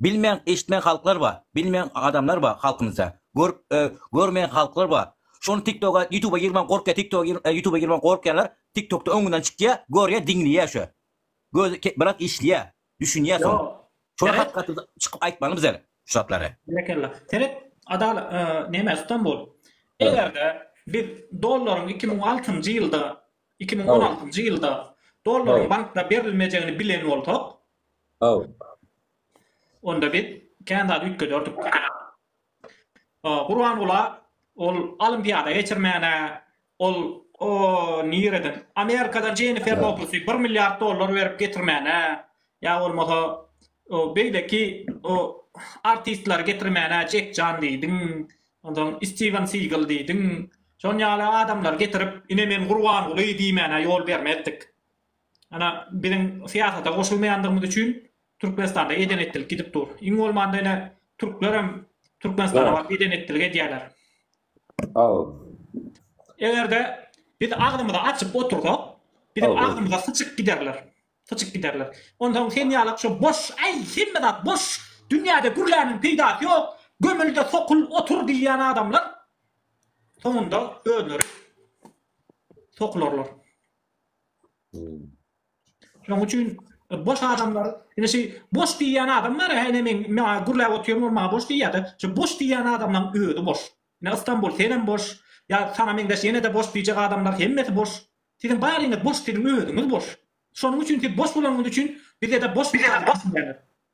S1: Bilmeýän eşitmeýän halklar bar bilmeýän adamlar bar halkymyzda görüp görmeýän halklar bar şony tiktoga ýutuba girmän gorkýar tiktoga ýutuba girmän gorkýarlar tiktokda öňünden çykýar görýär diňleýär şo gözi biraz işleýär düşünýär soň şony hat gaty çykyp aýtmaly bize şu zatlary. Berekella. Seret Adalat näme Stambul egerde biz dollaryň iki müň altynjy ýylda iki müň on altynjy ýylda dollaryň bankda berilmejegini bilen bolsak Haw. Onda biz kän zat üýtgederdik. Gurbangula ol olimpiada geçirmäne ol o nireden Amerikadan Jennifer Lopesi bir milliard dollar berip getirmäne ýa bolmasa o beýleki o artistleri getirmäne Jek Jan diýdiň onsoň Stiwen Sigel diýdiň şon ýaly adamlary getirip ine men Gurbanguly diýmäne ýol bermezdik. Ana, biziň syýasata goşulmaýandygymyz üçin Türkmenistanda eden-etdilik gidip dur. Iň bolmanda ine, türklerem Türkmenistana baryp eden-etdilik edýärler. Eger-de biz agzymyzy açyp otursak, biziň agzymyza syçyp giderler. Syçyp giderler. Onsoň sen ýaly şu boş, äý, hemme zat boş, dünýäde gürläniň peýdasy ýok, gömül-de sokul, otur diýýän adamlar soňunda özleri sokularlar. Şoň üçin e, boş adamlar, ine şu boş diýýän adam bar, hene men maňa gürläp otyrym, ol maňa boş diýýär-de. Şu boş diýýän adamlaryň özi boş. Ine Istanbul sen hem boş, ýa saňa meňzeş ýene-de boş diýjek adamlar hemmesi boş. Siziň baryňyz boş, siziň özüňiz boş. Şonuň üçin siz boş bolanyňyz üçin bizede boş bir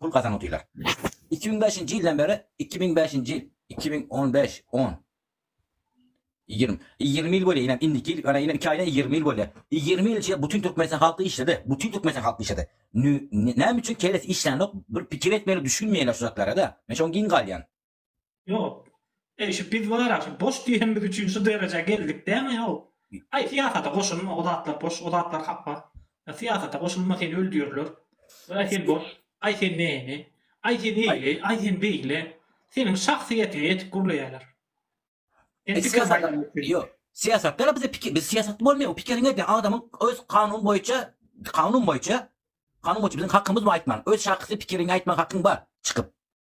S1: pul gazanyp otyrlar. Iki müň bäşinji ýyldan bäri, iki müň bäşinji ýyl, iki müň on bäş, on, ýigrimi, ýigrimi ýyl bolýar, inem indiki ýyl, ana inem iki aýdan ýigrimi ýyl bolýar. Ýigrimi ýyl içinde bütin Türkmenistan halky işledi, bütin Türkmenistan halky işledi. Nü, näme üçin kellesi işlänok, bir pikir etmeýärler, düşünmeýärler şu zatlara-da. Men şoňa giň galýan. Ýok. Eý, şu biz bar-a, şu boş diýen biz üçin şu derejä geldik dämi, how? Aý, syýasata goşulma, o zatlar boş, o zatlar hapa. Ýa syýasata goşulma, seni öldürirler. Aý, sen boş. Aý, sen näme? Aý, sen eýle, aý, sen beýle. Seniň şahsyýetiňe ýetip gürleýärler. Sen pikir maýdany üçin. Ýok. Syýasatda-da bize pikir, biz syýasatda bolmaýar, o pikiriň ýa adamyň öz kanun boýunça, kanun boýunça, kanun boýunça biziň hakymyz bar aýtmaga. Öz şahsy pikiriňi aýtmaga hakyň bar çykyp.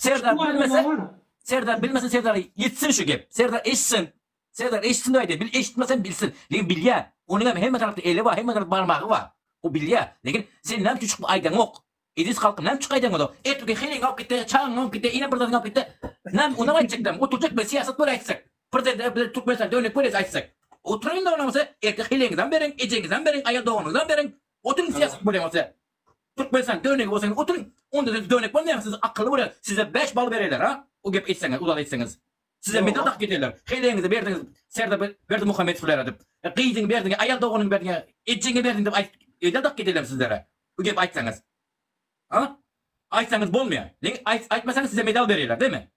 S1: Serdar bilmese Serdar bilmese Serdar ýetsin şu gep Serdar eşitsin Serdar eşitsin aýdy bil eşitmesem bilsin lekin bilýä onuňam hemme tarapda eli bar hemme tarapda barmagy bar o bilýä lekin sen näme üçin çykyp aýdaňok Edis halkym näme üçin aýdaňok ozal erteki heleň alyp gitdi çagyň alyp gitdi ine bir zadyň alyp gitdi näme onam aýtjakdam oturjak bir syýasat bol aýtsak prezident bilen türkmenistanda örnek bol aýtsak oturyň onda bolmasa erteki heleňizem beriň ejeňizem beriň aýal doganyňyzam beriň oturyň syýasat bol bolmasa Türkmenistan dönegi bolsaňyz otuň onda siz dönek bolmaýaňyz siz akylly bolýa size bäş bal bereler ha o gep etseňiz uzak etseňiz size medal dakyp giderler heleňizi berdiňiz Serdar Berdimuhamedowlara dip gyzyňy berdiňe aýal doganyňy berdiňe ejeňe berdiň dip aýt edal dakyp giderler sizlere bu gep aýtsaňyz ha aýtsaňyz bolmaýa lekin aýt aýtmasaňyz size medal bereler deme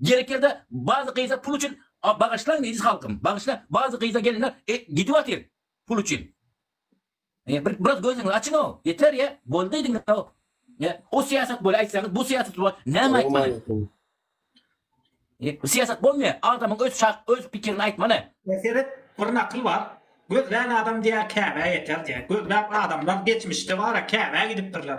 S1: Gerek ýerde bazy gyza pul üçin bagyşlaň diýdi halkym bagyşla bazy gyza gelinler gidip atyr pul üçin e bir biraz gözüňizi açyň o ýeter ýe boldy diňe o ýe o syýasat bol aýtsaňyz bu syýasat bol näme aýtmaly e syýasat bolmaýar adamyň öz şah öz pikirini aýtmaly. E seret bir nakyl bar gözlän adam diýä käbä ýeter diýä gözläp adamlar geçmişde bara käbä gidipdirler.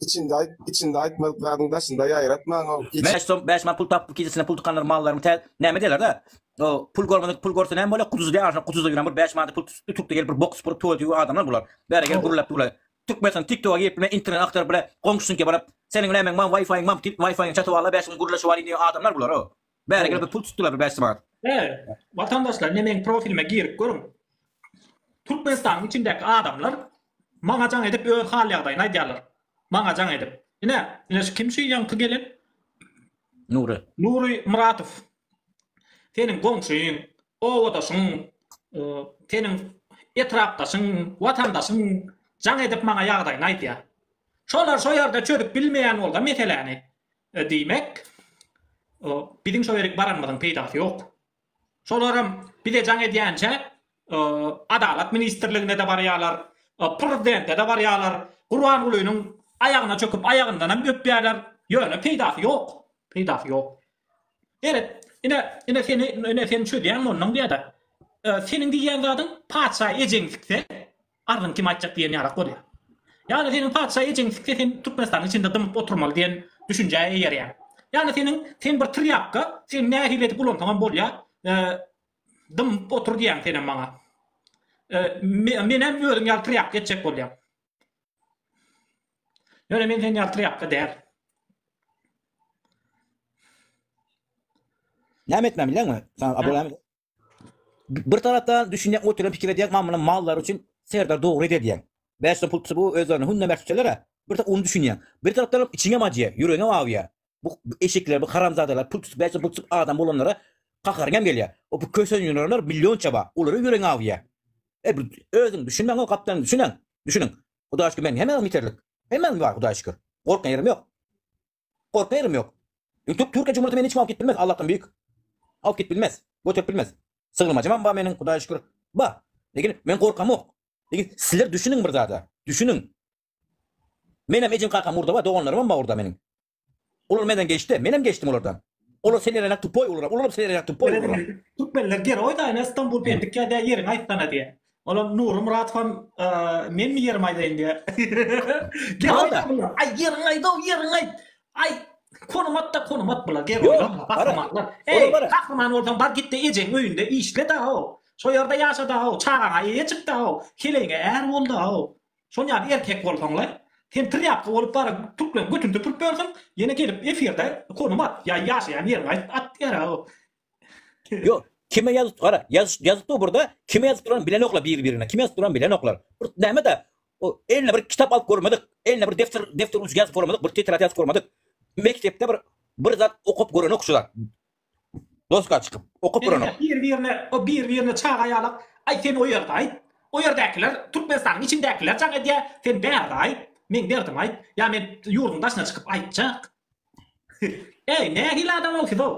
S1: Içinde ayt, içinde aytmadyklaryny daşynda yayratman o. Bäş som, bäş man pul tapyp kejisine pul tykanlar mallarymy tä, näme diýerler da, o, pul görmedik pul görse näme bolýa, kuduzy diýýä, şo kuduzy ýören bir bäş manada pul tutupdy, tutdy gelip bir bok supuryp tuwalet ýuwýan adamlar bular. Bäri gelip gürläp durlar. Türkmenistan TikToka girip bilmän internet agtaryp bile goňşusynyka baryp, seniň nämeň mam wifi-iň mam diýip wifi-iňi çatyp alla bäş gün gürleşip alyň diýýän adamlar bular o. Bäregel bir pul tutdylar bir bäşji manat. He, watandaşlar ne meň profilime girip görüň. Türkmenistanyň içindäki adamlar maňa jaň edip öz hal ýagdaýyny aýdýarlar. Maňa jaň edip. Ine, ine şu kim şu ýaňky gelen? Nury. Nury Muratow. Seniň goňşyň, obadaşyň, e, seniň etrapdaşyň, watandaşyň jaň edip maňa ýagdaýyny aýdýar. Şolar şo ýerde çözüp bilmeýän bolsa meseläni. Diýmek, biziň şo ýerik baranymyzyň peýdasy ýok. Şolaram bize jaň edýänçä, Adalat ministrligine-de barýarlar, Prezidente-de barýarlar, Gurbangulynyň aýagyna çöküp, aýagyndanam öpýärler, ýöne peýdasy ýok. Peýdasy ýok. Seret, ine, ine seni, ine seni çözýän mondan diýýä-de. Seniň diýýän zadyň patyşa ejeňdikse, Arzyň kim aýtjak diýen ýalak bolýar. Ýa-da seniň patyşa ejeňsikse sen Türkmenistanyň içinde dymyp oturmaly diýen düşünjä eýerýäň. Ýa-da seniň sen bir trýapka, sen nähili edip ulansaňam bolýar, dymyp otur diýýäň senem maňa. Menem özüm ýaly trýapka etjek bolýam. Ýöne men sen ýaly trýapka däl. Näme etmän bilýäňmi? Saňa Abdullah Bir tarapdan düşünjek otyran pikir edýän mamla mallary üçin serdar dogry edýän. Bäş som pul tutup o özlerini hünne mert tutýalara bir tek ony düşünýän. Bir tarapdanam içiňem acýa, ýüregiňem awýa. Bu eşekler bu haramzadalar pul tutup bäş som pul tutup adam bolanlara kaharyňam gelýä. O bu kösenýürenler millionça bar. Olara ýüregiň awýa. E bu özüň düşünmäň o gapdan düşünäň. Düşüniň. Hudaýşükür men hemäňem ýeterlik. Hemmäňiz bar hudaýşükür. Gorkýan ýerim ýok. Gorkaýarym ýok. Üýtgip Türkiýe Cumhurity meni hiç wagt gitdirmez, Allahdan büýük. Alyp gidip bilmez. Göterip bilmez. Sygyrmajymam bar meniň, Hudaýa şükür. Bar. Lekin men gorkamok. Lekin sizler düşüniň bir zada. Düşüniň. Menem ejem-kakam urdawa, doganlarymam bar urda meniň. Olar menden geçdi, menem geçdim olardan. Olar selerenak tupoý uluram, uluram selerenak tupoý uluram. Türkmenler geroý-da, ene Stambul pendik ýa-da ýeriňi aýtsana diýýär. Olam Nurmyrat han men mi ýerimi aýdaýyn diýýär. Gel aý ýeriňi aýdaw ýeriňi aýt. Aý Konumat da konumat bular gel oýlanma bahrymanlar. Eý bahryman bolsaň bar gitde ejeň öýünde işle da-ow. Şo ýerde ýaşa da-ow çagaňa eýe çyk da-ow. Keleýiňe är bol da-ow. Şon ýaly erkek bolsaň-la. Sen trýapka bolup baryp türkleriň götüni süpürip ýörsüň ýene gelip efirde konumat ýaý ýaşaýan ýeriňi aýt at diýýär-ow. Ýok, kime ýazyp gara, ýazyp ýazyp dur burada, kime ýazyp duran bilenok la biri birine, kime ýazyp duran bilenoklar. Bir näme da o eline bir kitap alyp görmedik, eline bir depder depder uçy ýazyp görmedik, bir tetrad ýazyp görmedik. Mekdepde bir bir zat okap görenok şu zat. Doska çykyp, okap görenok. Biri birine, o biri birine çaga ýalak, aý sen o ýerde aýt, o ýerdäkiler Türkmenistanyň içindekiler jaň edýä, sen bärde aýt, meň derdim aýt, ýa men ýurduň daşyna çykyp aýtjak. Eý, nähili adamol sizow?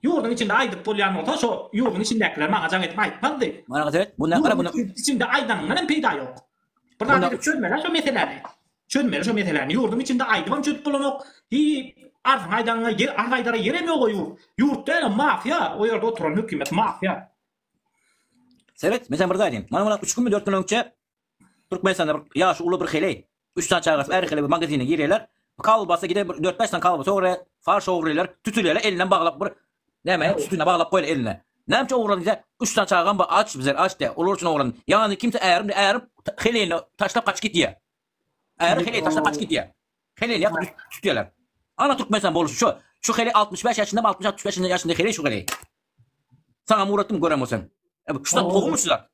S1: Ýurduň içinde aýdyp bolýan bolsa, şo ýurduň içindäkiler maňa jaň edip aýtmazdy. Maňa seret, bu nähili bu? Ýurduň içinde aýdanyňdan hem peýda ýok. Bir zat edip çözmeli-ä şo meseläni. Çözmeli şo meseläni. Ýurduň içinde aýdybam çözüp bolanok. Hiý, arzyňy aýdaňa ýer, arz aýdara ýerem ýog-a ýurt. Ýurt däl-ä, mafiýa. O ýerde oturan hökümet mafiýa. Seret, men saňa bir zat aýdaýyn. Maňa mundan üç günmi, dört gün öňçe Türkmenistanda bir ýaşy uly bir heleý, Üç sany çagasy bäri hili bir magazine girýärler. Kolbasa gide bir dört-bäş sany kolbasa ogurýar. Farş ogurlaýlar. Tütülýärler elinem baglap bir näme sütüne baglap goýýar eline. Nämçe ogurlan diýse, üç sany çagam bar aç bizler aç diýýär. Olar üçin ogurlan. Ýanyny kimse ärim diýýär. Äri helini taşlap gaçyp gitýär. Äri helini taşlap gaçyp gitýär. Helini ýakyp tutýarlar. Ana Türkmenistan boluşy şu. Şu heli altmyş bäş ýaşyndamy altmyş altmyş bäş ýaşynda heleý şu heleý. Saňa muratdym gören bolsaň. Şu zat gowumy şu zat.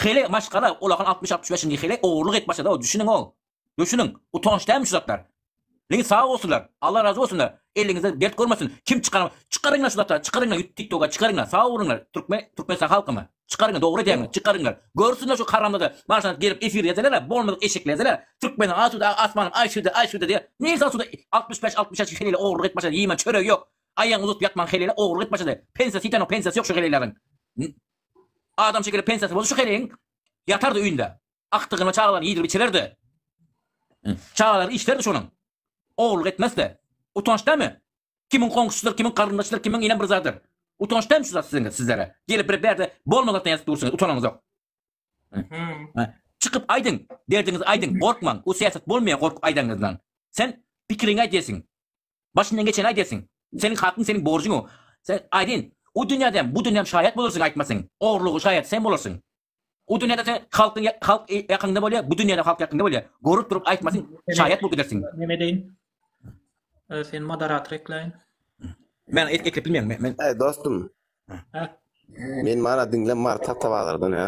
S1: Hili maşgala ulakan 60-65 nji hili ogurlyk et başlady o düşüniň o. Düşüniň. Utanç dämi şu zatlar. Ligi sag bolsunlar. Allah razy bolsunlar. Eliňizde dert görmesin. Kim çykar? Çykaryňlar şu zatlar. Çykaryňlar ýut TikToka çykaryňlar. Sag boluňlar. Türkmen Türkmenistan halkymy. Çykaryňlar dogry edýäňiz. Çykaryňlar. Görsünler şu haramzada. Maşa gelip efir ýazylar. Bolmadyk eşeklerdiler. Türkmeniň asuda asmany aýşyda aýşyda diýip. Neýse asuda 65-66 hili ogurlyk et başlady. Ýemen çöregi ýok. Aýagyny uzadyp ýatman heleýle ogurlyk et başlady. Pensiýasy ýitenok, pensiýasy ýok şu heleýleriň. Adam şekili pensiýasy bolsa şu heleýiň ýatardy öýünde. Agtygyna çagalaryny iýdirip-içirerdi. Çagalary işlerdi şonuň. Ogurlyk etmezdi. Utanç dämi? Kimiň goňşusydyr, kimiň garyndaşydyr, kimiň inem bir zadydyr. Utanç dämi şu zat siziň, sizlere? Gelip bir bärde bolma zatdan ýazyp dursuňyz, utanaňyzok. Çykyp aýdyň, derdiňizi aýdyň, gorkmaň. Bu syýasat bolmaýar gorkup aýdanňyzdan. Sen pikiriňi aýt diýesiň. Başyndan geçeni aýdersiň. Seniň hakyň seniň borjuň o. Sen, aýdyn, o dünýäde hem, bu dünýäm şaýat bolarsyň aýtmasyň. Ogrulygyň şaýady sen bolarsyň. O dünýäde sen halkyň halk ýakynda bolýar, bu dünýäde halk ýakynda bolýar. Görüp durup aýtmasyň, şaýat bolup gidersiň. Näme edeýin? Seni moderator ekläýin. Men eklep bilmeýän. Men. Dostum. Hä? Men mana diňle Marta Tawalardan, hä?